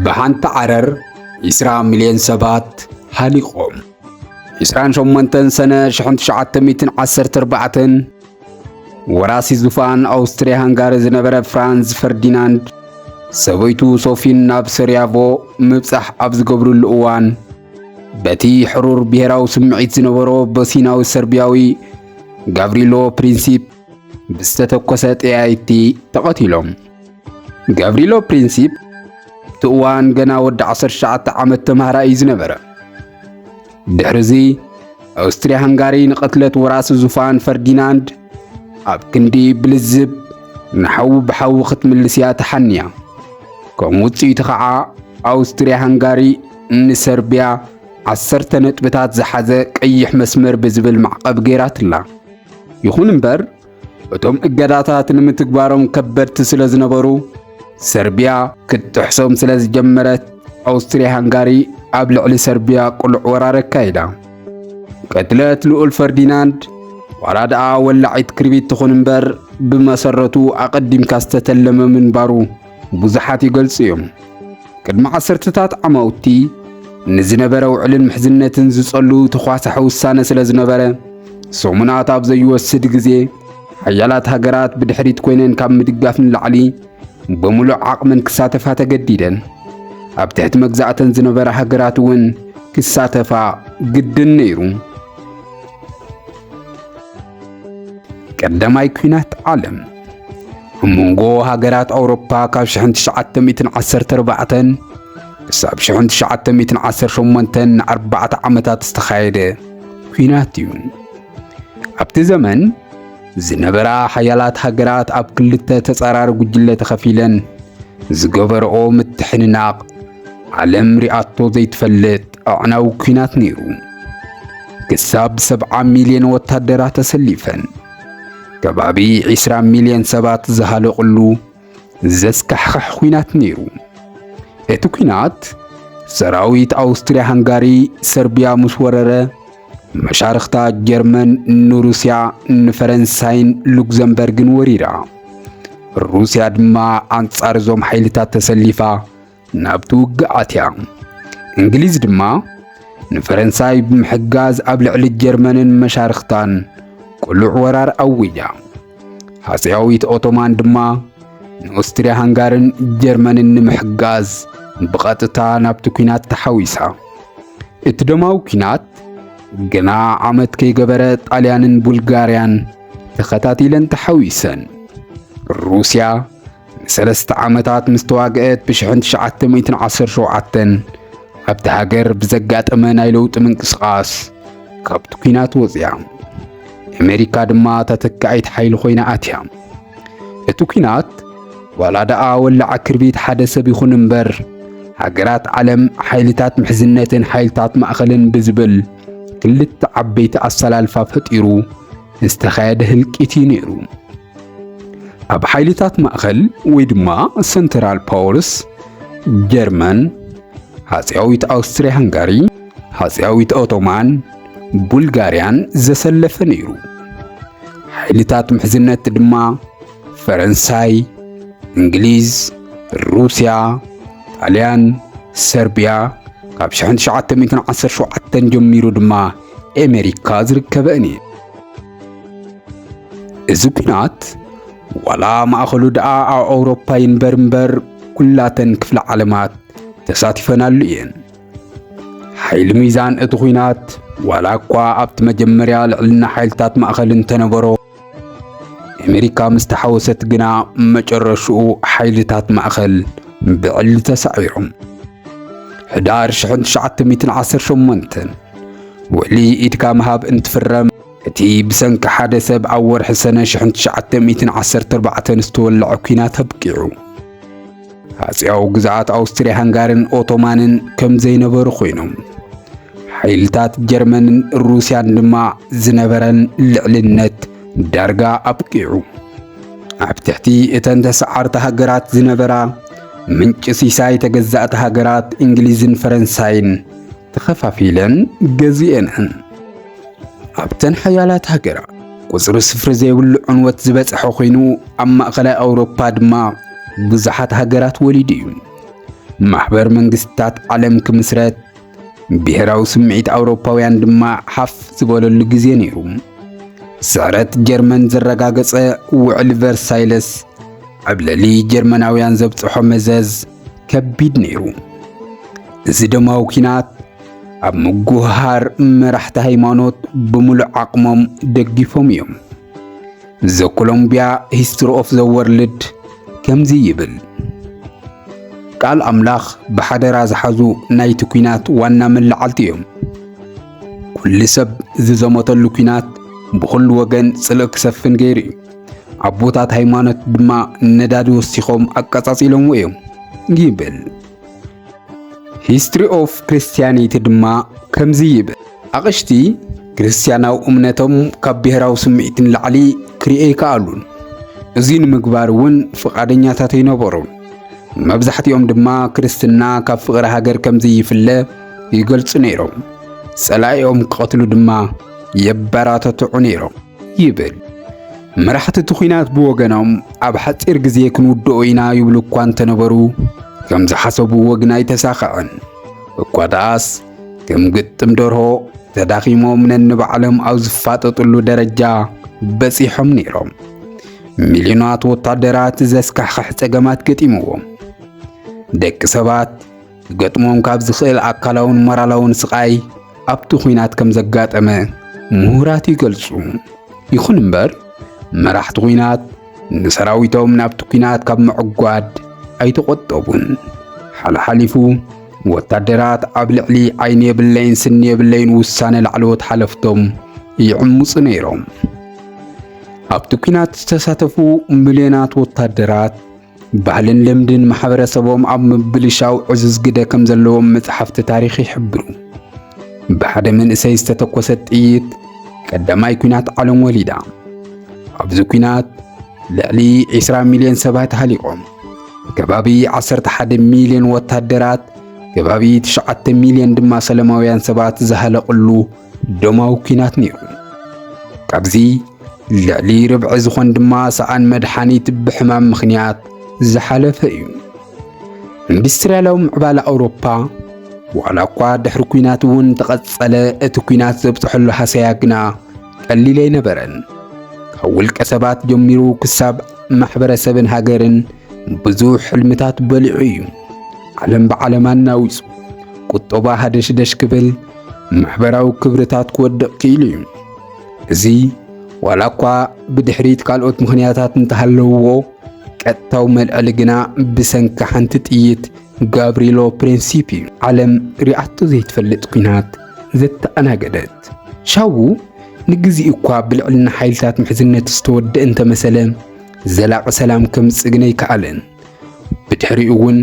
ብሓንቲ ዓረር 20 ሚልዮን ሰባት ሃሊቖም። 28 ሰነ 1914 ወራሲ ዙፋን ኣውስትሪያ ሃንጋሪ ዝነበረ ፍራንዝ ፈርዲናንድ ሰበይቱ ሶፊን ናብ ሰሪያቮ ምብጻሕ ኣብ ዝገብርሉ እዋን በቲ ሕሩር ብሔራዊ ስምዒት ዝነበሮ ቦሲናዊ ሰርቢያዊ ጋብሪሎ ፕሪንሲፕ ብዝተተኮሰ ጠያይቲ ተቐቲሎም። ጋብሪሎ ፕሪንሲፕ እቲ እዋን ገና ወዲ 19 ዓመት ተማሃራይ እዩ ዝነበረ። ድሕርዚ ኣውስትሪያ ሃንጋሪ ንቕትለት ወራሲ ዙፋን ፈርዲናንድ ኣብ ክንዲ ብልዝብ ንሓዊ ብሓዊ ክትምልስ እያ ተሓንያ። ከም ውፅኢቱ ኸዓ ኣውስትሪያ ሃንጋሪ ንሰርቢያ ዓሰርተ ነጥብታት ዝሓዘ ቀይሕ መስመር ብዝብል ማዕቐብ ገይራትላ። ይኹን እምበር እቶም እገዳታት ንምትግባሮም ከበድቲ ስለ ዝነበሩ ሰርቢያ ክትጥሕሶም ስለ ዝጀመረት ኣውስትሪያ ሃንጋሪ ኣብ ልዕሊ ሰርቢያ ቅሉዕ ወራር ኣካይዳ ቅትለት ልኡል ፈርዲናንድ ዋላ ደኣ ወላዒት ክርቢት ትኹን እምበር ብመሰረቱ ኣቐዲምካ ዝተተለመ ምንባሩ ብዙሓት ይገልጹ እዮም። ቅድሚ ዓሰርተታት ዓማውቲ ንዝነበረ ውዕልን ምሕዝነትን ዝጸሉ ተኳሳሒ ውሳነ ስለ ዝነበረ ሰሙናት ኣብ ዘይወስድ ግዜ ሓያላት ሃገራት ብድሕሪት ኮይነን ካብ ምድጋፍ ንላዕሊ ብምሉእ ዓቕመን ክሳተፋ ተገዲደን። ኣብ ትሕቲ መግዛእተን ዝነበረ ሃገራት እውን ክሳተፋ ግድን ነይሩ። ቀዳማይ ኲናት ዓለም ኣብ መንጎ ሃገራት ኣውሮፓ ካብ 1914 ክሳብ 1918 ንኣርባዕተ ዓመታት ዝተኻየደ ኲናት እዩ። ኣብቲ ዘመን ዝነበራ ሓያላት ሃገራት ኣብ ክልተ ተጻራሪ ጉጅለ ተኸፊለን ዝገበረኦ ምትሕንናቕ ዓለም ሪኣቶ ዘይትፈልጥ ኣዕናዊ ኲናት ነይሩ። ክሳብ 70 ሚልዮን ወታደራት ተሰሊፈን ከባቢ 20 ሚልዮን ሰባት ዝሃለቕሉ ዘስካሕኽሕ ኲናት ነይሩ። እቲ ኲናት ሰራዊት ኣውስትሪያ ሃንጋሪ ሰርቢያ ምስ ወረረ መሻርኽታ ጀርመን ንሩስያ ንፈረንሳይን ሉክዘምበርግን ወሪራ። ሩስያ ድማ ኣንጻር እዞም ሓይልታት ተሰሊፋ ናብቲ ውግእ ኣትያ። እንግሊዝ ድማ ንፈረንሳይ ብምሕጋዝ ኣብ ልዕሊ ጀርመንን መሻርኽታን ቅሉዕ ወራር ኣዊጃ። ሃጸያዊት ኦቶማን ድማ ንኦስትሪያ ሃንጋርን ጀርመንን ንምሕጋዝ ብቐጥታ ናብቲ ኲናት ተሓዊሳ። እቲ ደማዊ ኲናት ግና ዓመት ከይገበረ ጣልያንን ቡልጋርያን ተኸታቲለን ተሓዊሰን። ሩስያ ንሰለስተ ዓመታት ምስ ተዋግአት ብ1917 ኣብቲ ሃገር ብዘጋጠመ ናይ ለውጢ ምንቅስቓስ ካብቲ ኲናት ወፂያ ኣሜሪካ ድማ ተተካኢት ሓይሊ ኮይና ኣትያ እቲ ኲናት ዋላ ደኣ ወላዓ ክርቢት ሓደ ሰብ ይኹን እምበር ሃገራት ዓለም ሓይልታት ምሕዝነትን ሓይልታት ማእኸልን ብዝብል ክልተ ዓበይቲ ኣሰላልፋ ፈጢሩ ዝተኻየደ ህልቂት እዩ ነይሩ። ኣብ ሓይልታት ማእኸል ወይ ድማ ሰንትራል ፓወርስ ጀርመን፣ ሃጽያዊት ኣውስትሪያ ሃንጋሪ፣ ሃጽያዊት ኦቶማን ቡልጋርያን ዘሰለፈ ነይሩ። ሓይልታት ምሕዝነት ድማ ፈረንሳይ፣ እንግሊዝ፣ ሩስያ፣ ጣልያን፣ ሰርቢያ ካብ 1917 ጀሚሩ ድማ ኣሜሪካ ዝርከበን እዩ። እዚ ኲናት ዋላ ማእኸሉ ደኣ ኣብ ኣውሮፓ ይንበር እምበር ኩላተን ክፍለ ዓለማት ተሳቲፈናሉ እየን። ሓይሊ ሚዛን እቲ ኲናት ዋላ እኳ ኣብቲ መጀመርያ ልዕልና ሓይልታት ማእኸል እንተነበሮ ኣሜሪካ ምስ ተሓወሰት ግና መጨረሽኡ ሓይልታት ማእኸል ብዕሊ ተሳዒሮም ሕዳር 1918 ውዕሊ ኢድካ ምሃብ እንትፍረም፣ እቲ ብሰንኪ ሓደ ሰብ ኣብ ወርሒ ሰነ ሽሕን ትሽዓተ ሚእትን ዓሰርተ ኣርባዕተን ዝተወልዐ ኲናት ኣብቂዑ። ሃጺያዊ ግዝኣት ኣውስትርያ ሃንጋርን ኦቶማንን ከም ዘይነበሩ ኮይኖም፣ ሓይልታት ጀርመንን ሩስያን ድማ ዝነበረን ልዕልነት ዳርጋ ኣብቂዑ። ኣብ ትሕቲ እተን ተሰዓርቲ ሃገራት ዝነበራ ምንጪ ሲሳይ ተገዛእቲ ሃገራት እንግሊዝን ፈረንሳይን ተኸፋፊለን ገዚኤንን ኣብተን ሓያላት ሃገራት ቁጽሪ ስፍሪ ዘይብሉ ዕንወት ዝበጽሐ ኮይኑ ኣብ ማእኸላይ ኣውሮፓ ድማ ብዙሓት ሃገራት ወሊዱ እዩ። ማሕበር መንግስታት ዓለም ክምስረት ብሔራዊ ስምዒት ኣውሮፓውያን ድማ ሓፍ ዝበለሉ ግዜ ነይሩ። ስዕረት ጀርመን ዘረጋገጸ ውዕል ቨርሳይለስ ዕብለሊ ጀርመናውያን ዘብጽሖ መዘዝ ከቢድ ነይሩ። እዚ ደማዊ ኲናት ኣብ ምጉህሃር መራሕቲ ሃይማኖት ብምሉእ ዓቕሞም ደጊፎም እዮም። ዘ ኮሎምቢያ ሂስትሪ ኦፍ ዘ ወርልድ ከምዚ ይብል፣ ቃል ኣምላኽ ብሓደራ ዝሓዙ ናይቲ ኲናት ዋና መላዓልቲ እዮም። ኩሉ ሰብ ዝዘመተሉ ኲናት ብኹሉ ወገን ጽልእ ክሰፍን ገይሩ እዩ። ኣቦታት ሃይማኖት ድማ ነዳዲ ወሲኾም ኣቀጻጺሎምዎ እዮም ይብል። ሂስትሪ ኦፍ ክርስቲያኒቲ ድማ ከምዚ ይብል። ኣቕሽቲ ክርስቲያናዊ እምነቶም ካብ ብሔራዊ ስምዒት ንላዕሊ ክርኤ ይከኣሉን እዚ ንምግባር እውን ፍቓደኛታት ኣይነበሩን። መብዛሕትኦም ድማ ክርስትና ካብ ፍቕሪ ሃገር ከምዚ ይፍለ ይገልጹ ነይሮም። ጸላኢኦም ክቐትሉ ድማ የበራተትዑ ነይሮም። ይብል። መራሕቲ እቲ ኲናት ብወገኖም ኣብ ሓፂር ግዜ ክንውድኦ ኢና ይብሉ እኳ እንተነበሩ ከም ዝሓሰብዎ ግን ኣይተሳኸዐን። እኳ ደኣስ ከም ግጥም ደርሆ ተዳኺሞም ነንባዕሎም ኣብ ዝፋጠጥሉ ደረጃ በፂሖም ነይሮም። ሚልዮናት ወታደራት ዘስካሕኽሕ ጸገማት ገጢምዎም ደቂ ሰባት ክገጥሞም ካብ ዝኽእል ኣካላውን ሞራላውን ስቓይ ኣብቲ ኲናት ከም ዘጋጠመ ምሁራት ይገልጹ። ይኹን እምበር መራሕቲ ኲናት ንሰራዊቶም ናብቲ ኲናት ካብ ምዕጓድ ኣይተቖጠቡን። ሓልሓሊፉ ወታደራት ኣብ ልዕሊ ዓይኒ የብለይን ስኒ የብለይን ውሳነ ላዕለዎት ሓለፍቶም ይዕምፁ ነይሮም። ኣብቲ ኲናት ዝተሳተፉ ሚልዮናት ወታደራት ባህልን ልምድን ማሕበረሰቦም ኣብ ምብልሻው ዕዙዝ ግደ ከም ዘለዎም መጽሓፍቲ ታሪኽ ይሕብሩ። ብሓደ መንእሰይ ዝተተኮሰት ጥይት ቀዳማይ ኲናት ዓለም ወሊዳ። ኣብዚ ኲናት ልዕሊ 20 ሚልዮን ሰባት ሃሊቖም። ከባቢ 11 ሚልዮን ወታደራት፣ ከባቢ 9 ሚልዮን ድማ ሰለማውያን ሰባት ዝሃለቕሉ ደማዊ ኩናት ነይሩ። ካብዚ ልዕሊ ርብዒ ዝኾን ድማ ሰኣን መድሓኒት ብሕማም ምኽንያት ዝሓለፈ እዩ። ኢንዱስትርያላዊ ምዕባለ ኣውሮፓ ዋላ እኳ ድሕሪ ኩናት እውን ተቐጸለ፣ እቲ ኩናት ዘብጽሐሉ ሃሰያ ግና ቀሊል ኣይነበረን። ካብ ውልቀ ሰባት ጀሚሩ ክሳብ ማሕበረሰብን ሃገርን ብዙሕ ሕልምታት በሊዑ እዩ። ዓለም ብዓለም ኣናዊጹ ቁጠባ ሃደሽደሽ ክብል ማሕበራዊ ክብርታት ክወድቕ ክኢሉ እዩ። እዚ ዋላ እኳ ብድሕሪት ካልኦት ምኽንያታት እንተሃለውዎ ቀጥታዊ መልዐሊ ግና ብሰንኪ ሓንቲ ጥይት ጋብሪሎ ፕሪንሲፕ እዩ። ዓለም ሪኣቶ ዘይትፈልጥ ኩናት ዘተኣናገደት ሻዉ ንግዜ እኳ ብልዕልና ሓይልታት ምሕዝነት ዝተወድአ እንተመሰለ ዘላቒ ሰላም ከምጽእ ግን ኣይከኣለን። ብድሕሪኡ እውን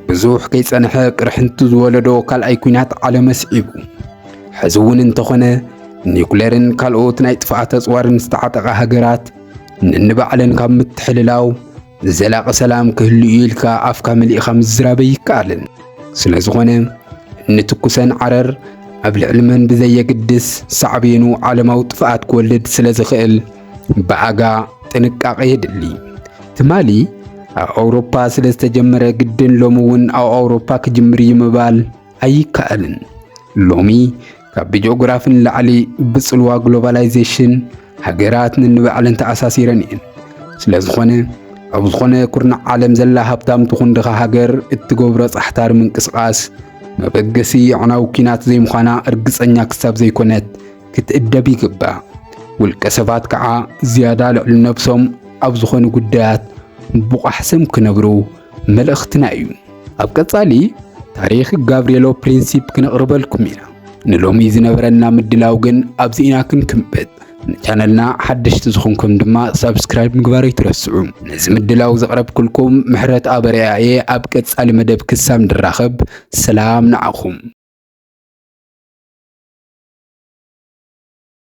ብዙሕ ከይጸንሐ ቅርሕንቲ ዝወለዶ ካልኣይ ኩናት ዓለም ኣስዒቡ ሕዚ እውን እንተኾነ ኒኩሌርን ካልኦት ናይ ጥፍኣት ኣጽዋርን ዝተዓጠቓ ሃገራት ንንባዕለን ካብ ምትሕልላው ዘላቂ ሰላም ክህሉ እዩ ኢልካ ኣፍካ መሊእኻ ምዝራብ ኣይከኣልን። ስለ ዝኾነ ንትኩሰን ዓረር ኣብ ልዕሊ መን ብዘየግድስ ሳዕቤኑ ዓለማዊ ጥፍኣት ክወልድ ስለ ዝኽእል ብኣጋ ጥንቃቐ የድሊ ትማሊ ኣብ ኣውሮፓ ስለ ዝተጀመረ ግድን ሎሚ እውን ኣብ ኣውሮፓ ክጅምር እዩ ምባል ኣይከኣልን። ሎሚ ካብ ብጂኦግራፊ ንላዕሊ ብጽልዋ ግሎባላይዜሽን ሃገራት ንንባዕለን ተኣሳሲረን እየን። ስለ ዝኾነ ኣብ ዝኾነ ኩርናዕ ዓለም ዘላ ሃብታም ትኹን ድኻ ሃገር እትገብሮ ጻሕታሪ ምንቅስቓስ መበገሲ ኣዕናዊ ኲናት ዘይምዃና እርግጸኛ ክሳብ ዘይኮነት ክትእደብ ይግባእ። ውልቀ ሰባት ከዓ ዝያዳ ልዕሊ ነብሶም ኣብ ዝኾኑ ጉዳያት ብቑሕ ስም ክነብሩ መልእኽትና እዩ። ኣብ ቀጻሊ ታሪኽ ጋብሪኤሎ ፕሪንሲፕ ክነቕርበልኩም ኢና። ንሎሚ ዝነበረና ምድላው ግን ኣብዚ ኢና ክንክምብጥ። ንቻነልና ሓደሽቲ ዝኾንኩም ድማ ሳብስክራይብ ምግባር ኣይትረስዑ። ነዚ ምድላው ዘቕረብኩልኩም ምሕረት ኣበርያ እየ። ኣብ ቀጻሊ መደብ ክሳብ ንራኸብ ሰላም ንዓኹም።